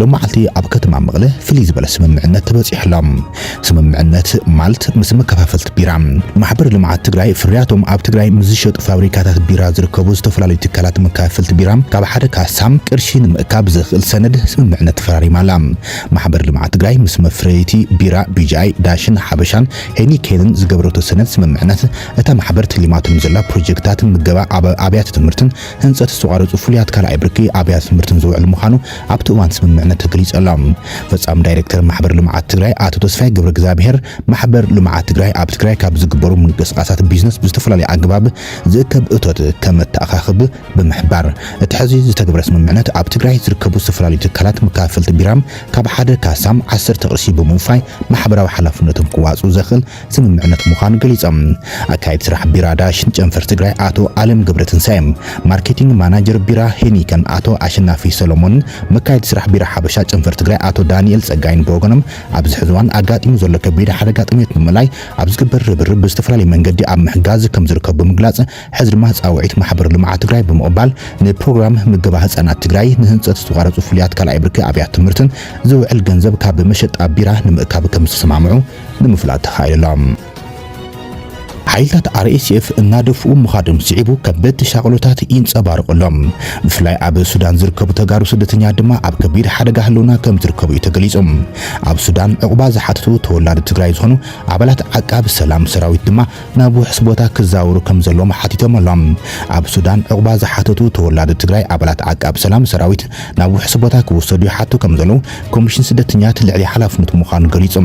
ሎማዓልቲ ኣብ ከተማ መቕለ ፍልይ ዝበለ ስምምዕነት ተበፂሑ ኣሎ። ስምምዕነት ማልት ምስ መከፋፈልቲ ቢራ ማሕበር ልምዓት ትግራይ ፍርያቶም ኣብ ትግራይ ምስ ዝሸጡ ፋብሪካታት ቢራ ዝርከቡ ዝተፈላለዩ ትካላት መከፋፈልቲ ቢራ ካብ ሓደ ካሳ ቅርሺ ንምእካብ ዘኽእል ሰነድ ስምምዕነት ተፈራሪማ ኣላ። ማሕበር ልምዓት ትግራይ ምስ መፍረይቲ ቢራ ቢጂኣይ፣ ዳሽን፣ ሓበሻን ሄኒኬንን ዝገበረቶ ሰነድ ስምምዕነት እታ ማሕበር ተሊማቶ ንዘላ ፕሮጀክትታት ምገባ ኣብ ኣብያተ ትምህርትን ህንፀት ዝተቋረፁ ፍሉያት ካልኣይ ብርኪ ኣብያተ ትምህርትን ዝውዕል ምዃኑ ኣብቲ እዋን ስምምዕነት ተገሊፁ ኣሎ። ፈፃሚ ዳይሬክተር ማሕበር ልምዓት ትግራይ ኣቶ ተስፋይ ገብረእግዝኣብሄር፣ ማሕበር ልምዓት ትግራይ ኣብ ትግራይ ካብ ዝግበሩ ምንቅስቓሳት ቢዝነስ ብዝተፈላለየ ኣገባብ ዝእከብ እቶት ከመተኣኻኽብ ብምሕባር፣ እቲ ሕዚ ዝተግበረ ስምምዕነት ኣብ ትግራይ ዝርከቡ ዝተፈላለዩ ትካላት መካፈልቲ ቢራም ካብ ሓደ ካሳም ዓሰርተ ቅርሺ ብምውፋይ ማሕበራዊ ሓላፍነቶም ክዋፅኡ ዘኽእል ስምምዕነት ምዃኑ ገሊፆም። ኣካያዲ ስራሕ ቢራ ዳሽን ጨንፈር ትግራይ ኣቶ ኣለም ገብረትንሳኤ፣ ማርኬቲንግ ማናጀር ቢራ ሄኒከን ኣቶ ኣሸናፊ ሰሎሞንን መካየዲ ስራሕ ቢራ ሓበሻ ጨንፈር ትግራይ ኣቶ ዳኒኤል ፀጋይን ብወገኖም ኣብዚ ሕዚ እዋን ኣጋጢሙ ዘሎ ከቢድ ሓደጋ ጥምየት ንምእላይ ኣብ ዝግበር ርብርብ ብዝተፈላለየ መንገዲ ኣብ ምሕጋዝ ከምዝርከቡ ብምግላፅ ሕዚ ድማ ፃውዒት ማሕበር ልምዓት ትግራይ ብምቕባል ንፕሮግራም ምገባ ህፃናት ትግራይ ንህንፀት ዝተቋረፁ ፍሉያት ካልኣይ ብርኪ ኣብያት ትምህርትን ዝውዕል ገንዘብ ካብ መሸጣ ቢራ ንምእካብ ከምዝተሰማምዑ ንምፍላጥ ተኻኢሉ'ሎ። ሓይልታት RSF እናደፍኡ ምኻዶም ስዒቡ ከበድቲ ሻቕሎታት ይንጸባረቑ ኣሎም። ብፍላይ ኣብ ሱዳን ዝርከቡ ተጋሩ ስደተኛት ድማ ኣብ ከቢድ ሓደጋ ህልውና ከምዝርከቡ እዩ ተገሊጹ። ኣብ ሱዳን ዑቕባ ዝሓተቱ ተወላዲ ትግራይ ዝኾኑ ኣባላት ዓቃቢ ሰላም ሰራዊት ድማ ናብ ውሑስ ቦታ ክዛወሩ ከምዘለዎም ሓቲቶም ኣሎም። ኣብ ሱዳን ዑቕባ ዝሓተቱ ተወላዶ ትግራይ ኣባላት ዓቃብ ሰላም ሰራዊት ናብ ውሑስ ቦታ ክውሰዱ ይሓቱ ከምዘለው ኮሚሽን ስደተኛት ልዕሊ ሓላፍነቱ ምዃኑ ገሊጹ።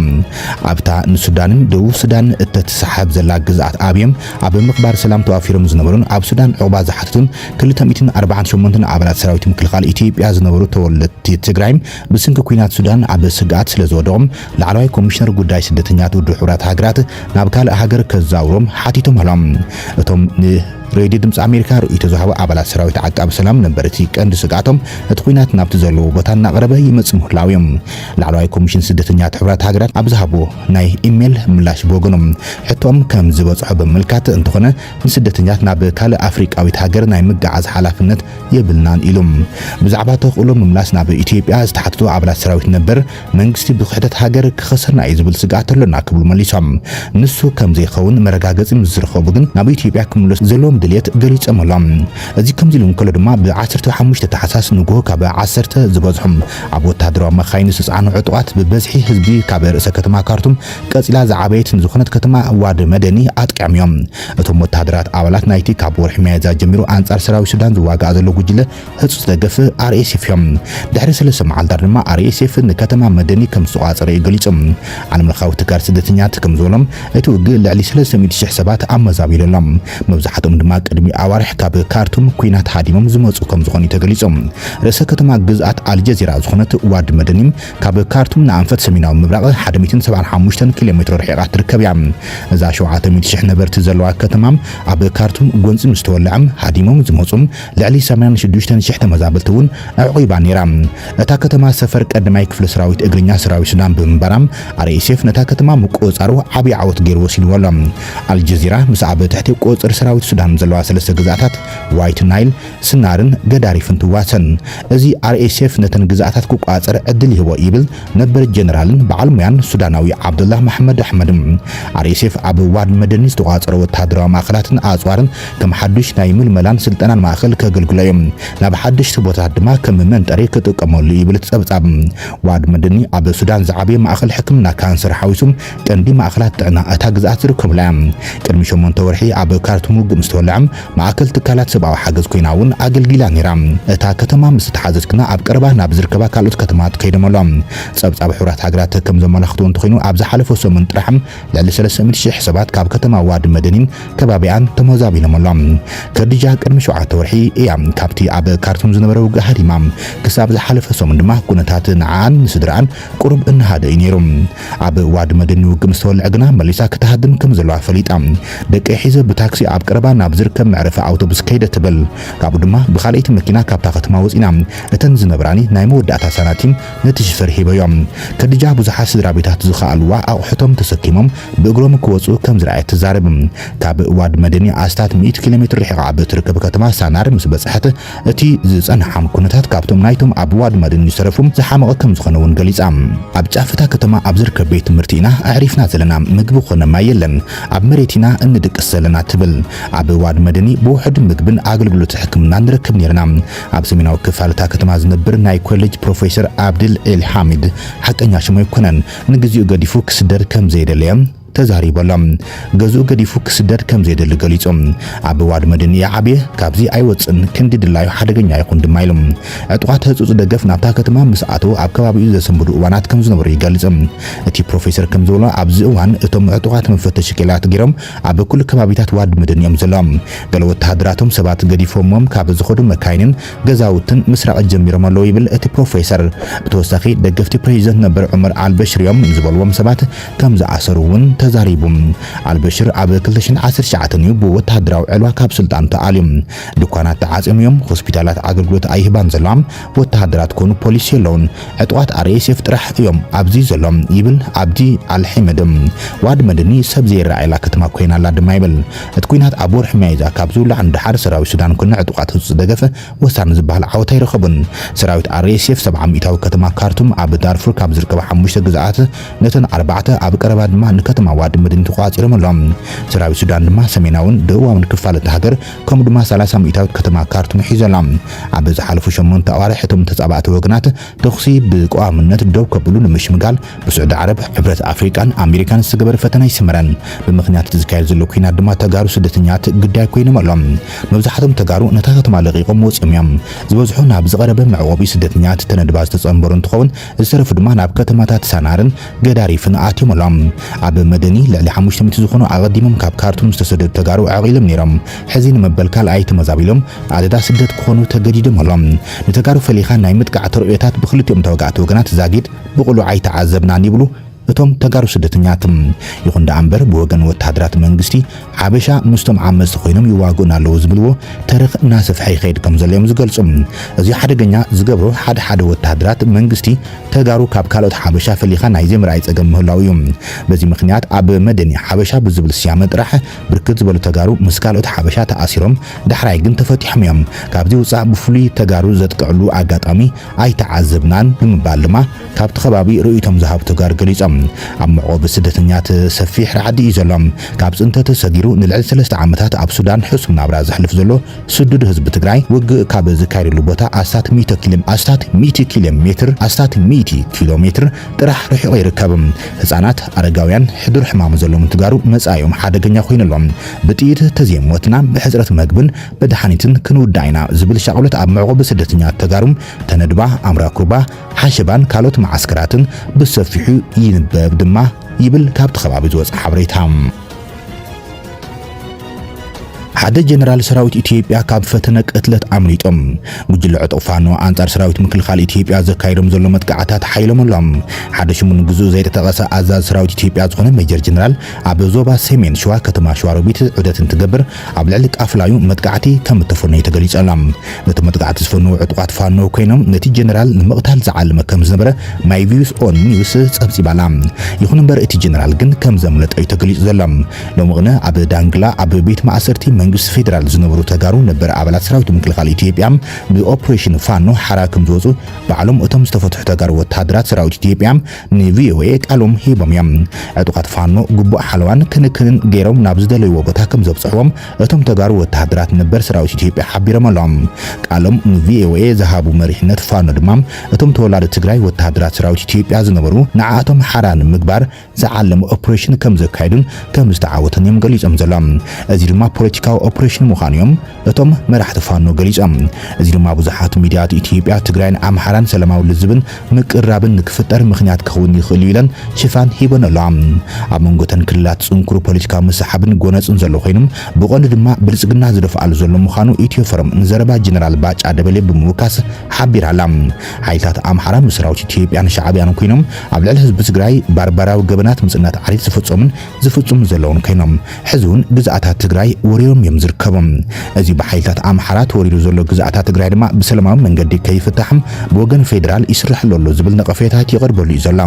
ኣብታ ንሱዳንን ደቡብ ሱዳንን እተትሰሓሕብ ዘላ ግዝኣት ኣብዮም ኣብ ምኽባር ሰላም ተዋፊሮም ዝነበሩን ኣብ ሱዳን ዑቕባ ዝሓተቱን ክልተ ሚእትን ኣርባዓን ሸሞንተን ኣባላት ሰራዊት ምክልኻል ኢትዮጵያ ዝነበሩ ተወለድቲ ትግራይ ብስንኪ ኲናት ሱዳን ኣብ ስግኣት ስለዝወደቑ ላዕለዋይ ኮሚሽነር ጉዳይ ስደተኛታት ውድብ ሕቡራት ሃገራት ናብ ካልእ ሃገር ከዛውሮም ሓቲቶም ኣሎም። እቶም ን ሬድዮ ድምጺ ኣሜሪካ ርእይቶ ዝሃቡ ኣባላት ሰራዊት ዓቃቢ ሰላም ነበርቲ ቀንዲ ስግኣቶም እቲ ኲናት ናብቲ ዘለዎ ቦታ እናቐረበ ይመጽእ ምህላዉ እዩ። ላዕለዋይ ኮሚሽን ስደተኛታት ሕቡራት ሃገራት ኣብ ዝሃቦ ናይ ኢሜል ምላሽ ብወገኑ ሕቶኦም ከም ዝበጽሖ ብምምልካት እንተኾነ ንስደተኛታት ናብ ካልእ ኣፍሪቃዊት ሃገር ናይ ምግዓዝ ሓላፍነት የብልናን ኢሉ። ብዛዕባ ተኽእሎ ምምላስ ናብ ኢትዮጵያ ዝተሓተቱ ኣባላት ሰራዊት ነበር መንግስቲ ብክሕደት ሃገር ክኸሰና እዩ ዝብል ስግኣት ኣሎና ክብሉ መሊሶም። ንሱ ከምዘይኸውን መረጋገጺ ምስ ዝረኸቡ ግን ናብ ኢትዮጵያ ክምለሱ ዘለዎም ድልየት ገሊጸምሎም። እዚ ከምዚ ኢሉ እንከሎ ድማ ብ ዓሰርተ ሓሙሽተ ታሕሳስ ንጉሆ ካብ ዓሰርተ ዝበዝሑ ኣብ ወተሃደራዊ መኻይን ዝተጻዕኑ ዕጡቓት ብበዝሒ ህዝቢ ካብ ርእሰ ከተማ ካርቱም ቀጺላ ዝዓበየት ንዝኾነት ከተማ ዋድ መደኒ ኣጥቂዖም እዮም። እቶም ወተሃደራት ኣባላት ናይቲ ካብ ወርሒ ሚያዝያ ጀሚሩ ኣንጻር ሰራዊት ሱዳን ዝዋጋእ ዘሎ ጉጅለ ህጹጽ ደገፍ RSF እዮ። ድሕሪ ሰለስተ መዓልታት ድማ RSF ንከተማ መደኒ ከም ዝተቖጻጸረ እዩ ገሊጹ። ዓለምለኻዊ ትካል ስደተኛታት ከም ዝበሎ፣ እቲ ውግእ ልዕሊ ሰለስተ ሚእቲ ሽሕ ሰባት ኣመዛቢሉ ኣሎ። መብዛሕትኦም ድማ ቅድሚ ኣዋርሕ ካብ ካርቱም ኲናት ሃዲሞም ዝመጹ ከም ዝኾኑ እዩ ተገሊጹ። ርእሰ ከተማ ግዝኣት ኣልጀዚራ ዝኾነት ዋዲ መደኒም ካብ ካርቱም ንኣንፈት ሰሜናዊ ምብራቕ ሓደ ሚእትን ሰብዓን ሓሙሽተን ኪሎሜትሮ ርሒቓ ትርከብ እያ። እዛ ሸውዓተ ሚእቲ ሽሕ ነበርቲ ዘለዋ ከተማ ኣብ ካርቱም ጎንጺ ምስ ተወልዐ ሃዲሞም ዝመጹ ልዕሊ ሰማንያን ሽዱሽተን ሽሕ ተመዛበልቲ እውን ኣዕቚባ ነይራ። እታ ከተማ ሰፈር ቀዳማይ ክፍለ ሰራዊት እግርኛ ሰራዊት ሱዳን ብምንባራ፣ RSF ነታ ከተማ ምቁጽጻሩ ዓቢ ዓወት ገይሩ ወሲድዎ ኣሎ። ኣልጀዚራ ምስ ኣብ ትሕቲ ቁጽጽር ሰራዊት ሱዳን ዘለዋ ሰለስተ ግዝኣታት፣ ዋይት ናይል፣ ስናርን ገዳሪፍን ትዋሰን፣ እዚ RSF ነተን ግዝኣታት ክቆጻጸር ዕድል ይህቦ ይብል ነበር ጀነራልን በዓል ሞያን ሱዳናዊ ዓብደላህ መሓመድ ኣሕመድ። RSF ኣብ ዋድ መደኒ ዝተቆጻጸሮ ወተሃደራዊ ማእከላትን ኣጽዋርን ከም ሓዱሽ ናይ ምልመላን ስልጠናን ማእኸል ከገልግሎ እዩ፣ ናብ ሓደሽቲ ቦታታት ድማ ከም መንጠሪ ክጥቀመሉ ይብል እቲ ፀብፃብ። ዋድ መድኒ ኣብ ሱዳን ዝዓበየ ማእኸል ሕክምና ካንሰር ሓዊሱ ቀንዲ ማእኸላት ጥዕና እታ ግዝኣት ዝርከቡላ እያ። ቅድሚ ሸሞንተ ወርሒ ኣብ ካርቱም ውግእ ምስ ተወልዐ ማእከል ትካላት ሰብኣዊ ሓገዝ ኮይና እውን ኣገልጊላ ነይራ። እታ ከተማ ምስ ተሓዘት ግና ኣብ ቀረባ ናብ ዝርከባ ካልኦት ከተማታት ከይዶም ኣሎ። ፀብፃብ ሕቡራት ሃገራት ከም ዘመላኽቶ እንተኾይኑ ኣብ ዝሓለፈ ሰሙን ጥራሕ ልዕሊ ሰለስተ ሚእቲ ሽሕ ሰባት ካብ ከተማ ዋዲ መደኒን ከባቢኣን ተመዛቢሎም ኣሎም። ከዲጃ ቅድሚ ሸውዓተ ወርሒ እያ ካብቲ ኣብ ካርቱም ዝነበረ ውግእ ሃዲማ። ክሳብ ዝሓለፈ ሰሙን ድማ ኩነታት ንዓኣን ንስድርኣን ቁሩብ እናሃደእ እዩ ነይሩ። ኣብ ዋዲ መደኒ ውግእ ምስ ተወልዐ ግና መሊሳ ክትሃድም ከም ዘለዋ ፈሊጣ ደቀይ ሒዘ ብታክሲ ኣብ ቀረባ ናብ ዝርከብ መዕረፊ ኣውቶቡስ ከይደ ትብል። ካብኡ ድማ ብኻልኣይቲ መኪና ካብታ ከተማ ወጺና እተን ዝነብራኒ ናይ መወዳእታ ሳናቲም ነቲ ሽፈር ሂበዮ። ከዲጃ ብዙሓት ስድራቤታት ዝኸኣልዋ ኣቑሑቶም ተሰኪሞም ብእግሮም ክወጹ ከም ዝረኣየት ትዛረብ። ካብ ዋድ መደኒ ኣስታት ሚእቲ ኪሎ ሜትር ርሒቓ ኣብ እትርከብ ከተማ ሳናር ምስ በጽሐት፣ እቲ ዝጸንሓም ኵነታት ካብቶም ናይቶም ኣብ ዋድ መደኒ ዝተረፉ ዝሓመቐ ከም ዝዀነ'ውን ገሊጻ። ኣብ ጫፍ እታ ከተማ ኣብ ዝርከብ ቤት ትምህርቲ ኢና ኣዕሪፍና ዘለና፣ ምግቢ ኰነ ማይ የለን፣ ኣብ መሬት ኢና እንድቅስ ዘለና ትብል። ኣብ ዋድ መደኒ ብውሑድ ምግብን ኣገልግሎት ሕክምናን ንረክብ ኔርና። ኣብ ሰሜናዊ ክፋል እታ ከተማ ዝነብር ናይ ኮሌጅ ፕሮፌሰር ኣብድል ኤል ሓሚድ፣ ሓቀኛ ሽሙ ኣይኮነን፣ ንግዜኡ ገዲፉ ክስደድ ከም ዘይደለየ ተዛሪቡ ኣሎ። ገዝኡ ገዲፉ ክስደድ ከም ዘይደሊ ገሊጹ። ኣብ ዋድ መድን እየ ዓብየ፣ ካብዚ ኣይወጽእን፣ ክንዲ ድላዩ ሓደገኛ ይኹን ድማ ኢሉ። ዕጡቓት ህጹጽ ደገፍ ናብታ ከተማ ምስ ኣተዉ ኣብ ከባቢኡ ዘሰንብዱ እዋናት ከም ዝነበሩ ይገልጽ። እቲ ፕሮፌሰር ከም ዝበሎ ኣብዚ እዋን እቶም ዕጡቓት መፈተሺ ክኢላታት ገይሮም ኣብ ኩሉ ከባቢታት ዋድ መደን እዮም ዘሎዎም። ገለ ወተሃደራቶም ሰባት ገዲፎምዎም ካብ ዝኸዱ መካይንን ገዛውትን ምስራቕ ጀሚሮም ኣለዉ ይብል እቲ ፕሮፌሰር። ብተወሳኺ ደገፍቲ ፕረዚደንት ነበር ዑመር ኣልበሽር እዮም ዝበሉዎም ሰባት ከም ዝኣሰሩ እውን ተዛሪቡ። ኣልበሽር ኣብ ክልተ ሽሕን ዓሰርተ ትሽዓተን እዩ ብወተሃደራዊ ዕልዋ ካብ ስልጣኑ ተኣልዩ። ድኳናት ተዓጽዮም እዮም፣ ሆስፒታላት ኣገልግሎት ኣይህባን ዘለዋ፣ ወተሃደራት ኮኑ ፖሊስ የለውን ዕጡቓት RSF ጥራሕ እዮም ኣብዚ ዘሎ ይብል ኣብዲ ኣል ሒመድ። ዋድ መድኒ ሰብ ዘይረኣየላ ከተማ ኮይና ኣላ ድማ ይብል። እቲ ኲናት ኣብ ወርሒ ሚያዝያ ካብ ዝውላዕ ንደሓር ሰራዊት ሱዳን ኮነ ዕጡቓት ሁቲ ደገፍ ወሳኒ ዝበሃል ዓወት ኣይረኸቡን። ሰራዊት RSF ሰብዓ ሚእታዊ ከተማ ካርቱም ኣብ ዳርፉር ካብ ዝርከባ ሓሙሽተ ግዝኣት ነተን ኣርባዕተ ኣብ ቀረባ ድማ ንከተማ ዋድ መድኒ ተቖጻጺሮም ኣሎም። ሰራዊት ሱዳን ድማ ሰሜናውን ደቡባውን ክፋል እታ ሃገር ከምኡ ድማ ሰላሳ ሚእታዊት ከተማ ካርቱም ሒዙ ኣሎ። ኣብ ዝሓለፉ ሸሞንተ ኣዋርሕ እቶም ተጻባእቲ ወገናት ተኹሲ ብቀዋምነት ደው ከብሉ ንምሽምጋል ብስዑዲ ዓረብ፣ ሕብረት ኣፍሪቃን ኣሜሪካን ዝተገበረ ፈተነ ኣይሰመረን። ብምኽንያት እቲ ዝካየድ ዘሎ ኲናት ድማ ተጋሩ ስደተኛት ግዳይ ኮይኖም ኣሎም። መብዛሕቶም ተጋሩ ነታ ከተማ ለቒቖም ወጺኦም እዮም። ዝበዝሑ ናብ ዝቐረበ መዕቖቢ ስደተኛት ተነድባ ዝተጸንበሩ እንትኸውን፣ ዝተረፉ ድማ ናብ ከተማታት ሳናርን ገዳሪፍን ኣትዮም ኣሎም። ኣብ መደኒ ልዕሊ ሓሙሽተ ሚእቲ ዝኾኑ ኣቐዲሞም ካብ ካርቱም ዝተሰደዱ ተጋሩ ዓቂሎም ነይሮም። ሕዚ ንመበል ካልኣይ ተመዛቢሎም ኣደዳ ስደት ክኾኑ ተገዲዶም ኣሎም። ንተጋሩ ፈሊኻ ናይ ምጥቃዕ ተርእዮታት ብክልቲኦም ተዋጋእቲ ወገናት ዛጊድ ብቕሉዕ ኣይተዓዘብናን ይብሉ እቶም ተጋሩ ስደተኛት ይኹን ደኣ እምበር ብወገን ወተሃደራት መንግስቲ ሓበሻ ምስቶም ዓመጽቲ ኮይኖም ይዋግኡና ኣለዉ ዝብልዎ ተረኽ እናሰፍሐ ይኸይድ ከም ዘሎ'ዮም ዝገልጹ። እዚ ሓደገኛ ዝገብሮ ሓደ ሓደ ወተሃደራት መንግስቲ ተጋሩ ካብ ካልኦት ሓበሻ ፈሊኻ ናይ ዘይምርኣይ ጸገም ምህላዉ እዩ። በዚ ምኽንያት ኣብ መደኒ ሓበሻ ብዝብል ስያመ ጥራሕ ብርክት ዝበሉ ተጋሩ ምስ ካልኦት ሓበሻ ተኣሲሮም ዳሕራይ ግን ተፈቲሖም'ዮም። ካብዚ ውጻእ ብፍሉይ ተጋሩ ዘጥቅዕሉ ኣጋጣሚ ኣይተዓዘብናን ብምባል ድማ ካብቲ ከባቢ ርእይቶም ዝሃቡ ተጋሩ ገሊጾም። ኣብ መዕቆቢ ስደተኛት ሰፊሕ ራዕዲ እዩ ዘሎ። ካብ ፅንተት ሰጊሩ ንልዕሊ ሰለስተ ዓመታት ኣብ ሱዳን ሕሱም ናብራ ዘሕልፍ ዘሎ ስዱድ ህዝቢ ትግራይ ውግእ ካብ ዝካየደሉ ቦታ ኣስታት ሚእቲ ኪሌ ኣስታት ሚእቲ ኪሌ ሜትር ኣስታት ሚእቲ ኪሎ ሜትር ጥራሕ ርሒቑ ይርከብ። ህፃናት፣ ኣረጋውያን፣ ሕዱር ሕማም ዘሎምን ትጋሩ መፃኢኦም ሓደገኛ ኮይኑ ኣሎ። ብጥይት ተዘይሞትና ብሕፅረት መግብን መድሓኒትን ክንውዳእ ኢና ዝብል ሻቕሎት ኣብ መዕቖቢ ስደተኛታት ተጋሩ ተነድባ፣ ኣምራኩባ፣ ሓሸባን ካልኦት መዓስከራትን ብሰፊሑ ይንበብ ድማ ይብል ካብቲ ከባቢ ዝወጸ ሓበሬታ። ሓደ ጀነራል ሰራዊት ኢትዮጵያ ካብ ፈተነ ቅትለት ኣምሊጦም። ጉጅለ ዕጡቕ ፋኖ ኣንጻር ሰራዊት ምክልኻል ኢትዮጵያ ዘካይዶም ዘሎ መጥቃዕታት ሓይሎም ኣሎም። ሓደ ሽሙ ንግዝኡ ዘይተጠቐሰ ኣዛዚ ሰራዊት ኢትዮጵያ ዝኾነ ሜጀር ጀነራል ኣብ ዞባ ሰሜን ሸዋ ከተማ ሸዋሮቢት ዑደት እንትገብር ኣብ ልዕሊ ቃፍላዩ መጥቃዕቲ ከም እተፈነዩ ተገሊጸላ። ነቲ መጥቃዕቲ ዝፈነዉ ዕጡቓት ፋኖ ኰይኖም፣ ነቲ ጀነራል ንምቕታል ዝዓለመ ከም ዝነበረ ማይቪውስ ኦን ኒውስ ጸብጺባ'ላ። ይዅን'ምበር እቲ ጀነራል ግን ከም ዘምለጠ'ዩ ተገሊጹ ዘሎ። ሎሚ ቕነ ኣብ ዳንግላ ኣብ ቤት ማእሰርቲ መንግስቲ ፌደራል ዝነበሩ ተጋሩ ነበር ኣባላት ሰራዊት ምክልኻል ኢትዮጵያ ብኦፕሬሽን ፋኖ ሓራ ከም ዝወጹ ባዕሎም እቶም ዝተፈትሑ ተጋሩ ወተሃደራት ሰራዊት ኢትዮጵያ ንቪኦኤ ቃሎም ሂቦም እዮም። ዕጡቓት ፋኖ ግቡእ ሓለዋን ክንክንን ገይሮም ናብ ዝደለይዎ ቦታ ከምዘብፅሕዎም እቶም ተጋሩ ወተሃደራት ነበር ሰራዊት ኢትዮጵያ ሓቢሮም ኣሎም። ቃሎም ንቪኦኤ ዝሃቡ መሪሕነት ፋኖ ድማ እቶም ተወላዶ ትግራይ ወተሃደራት ሰራዊት ኢትዮጵያ ዝነበሩ ንዓኣቶም ሓራ ንምግባር ዝዓለመ ኦፕሬሽን ከምዘካየዱን ከምዝተዓወቱን እዮም ገሊፆም ዘሎም። እዚ ድማ ፖለቲካዊ ኦፕሬሽን ምዃኑ እዮም እቶም መራሕቲ ፋኖ ገሊጾም። እዚ ድማ ብዙሓት ሚድያት ኢትዮጵያ፣ ትግራይን ኣምሓራን ሰላማዊ ልዝብን ምቅርራብን ንክፍጠር ምኽንያት ክኸውን ይኽእል'ዩ ኢለን ሽፋን ሂበንኦ ኣለዋ። ኣብ መንጎ እተን ክልላት ጽንኩር ፖለቲካዊ ምስሕሓብን ጎነጽን ዘሎ ኮይኑ፣ ብቐንዱ ድማ ብልጽግና ዝደፍኣሉ ዘሎ ምዃኑ ኢትዮፎረም ንዘረባ ጀነራል ባጫ ደበሌ ብምውካስ ሓቢራ ኣላ። ሓይልታት ኣምሓራ ምስ ሰራዊት ኢትዮጵያን ሻዕብያን ኮይኖም ኣብ ልዕሊ ህዝቢ ትግራይ ባርባራዊ ገበናት ምጽናት ዓሌት ዝፈጸሙን ዝፍጽሙ ዘለዉን ከይኖም ሕዚ ውን ግዝኣታት ትግራይ ወሪሮም እዮም ዝርከቡ። እዚ ብሓይልታት ኣምሓራ ተወሪሩ ዘሎ ግዝኣታ ትግራይ ድማ ብሰለማዊ መንገዲ ከይፍታሕ ብወገን ፌዴራል ይስረሐሉ ኣሎ ዝብል ነቐፌታት ይቐርበሉ እዩ ዘሎ።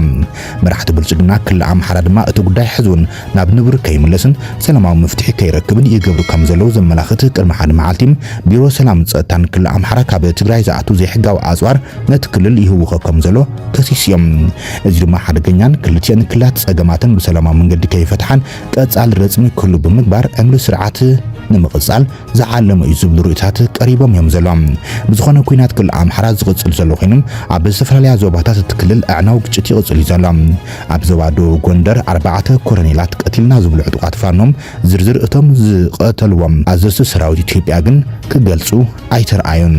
መራሕቲ ብልፅግና ክልል ኣምሓራ ድማ እቲ ጉዳይ ሕዚ ውን ናብ ንቡር ከይምለስን ሰላማዊ መፍትሒ ከይረክብን ይገብሩ ከም ዘለዉ ዘመላኽት ቅድሚ ሓደ መዓልቲ ቢሮ ሰላምን ፀጥታን ክልል ኣምሓራ ካብ ትግራይ ዝኣቱ ዘይሕጋዊ ኣፅዋር ነቲ ክልል ይህውኾ ከም ዘሎ ከሲሱ እዮ። እዚ ድማ ሓደገኛን ክልቲኤን ክልላት ጸገማተን ብሰላማዊ መንገዲ ከይፈትሓን ቀጻሊ ረጽሚ ክህሉ ብምግባር ዕምሪ ስርዓት ንምቕጻል ዝዓለመ እዩ ዝብሉ ርእይቶታት ቀሪቦም እዮም ዘሎም። ብዝኾነ ኲናት ክልል ኣምሓራ ዝቕጽል ዘሎ ኮይኑ ኣብ ዝተፈላለያ ዞባታት እቲ ክልል ኣዕናዊ ግጭት ይቕጽል እዩ ዘሎ። ኣብ ዞባ ደቡብ ጎንደር ኣርባዕተ ኮረኔላት ቀቲልና ዝብሉ ዕጡቓት ፋኖ ዝርዝር እቶም ዝቐተልዎም ኣዘዝቲ ሰራዊት ኢትዮጵያ ግን ክገልጹ ኣይተርኣዩን።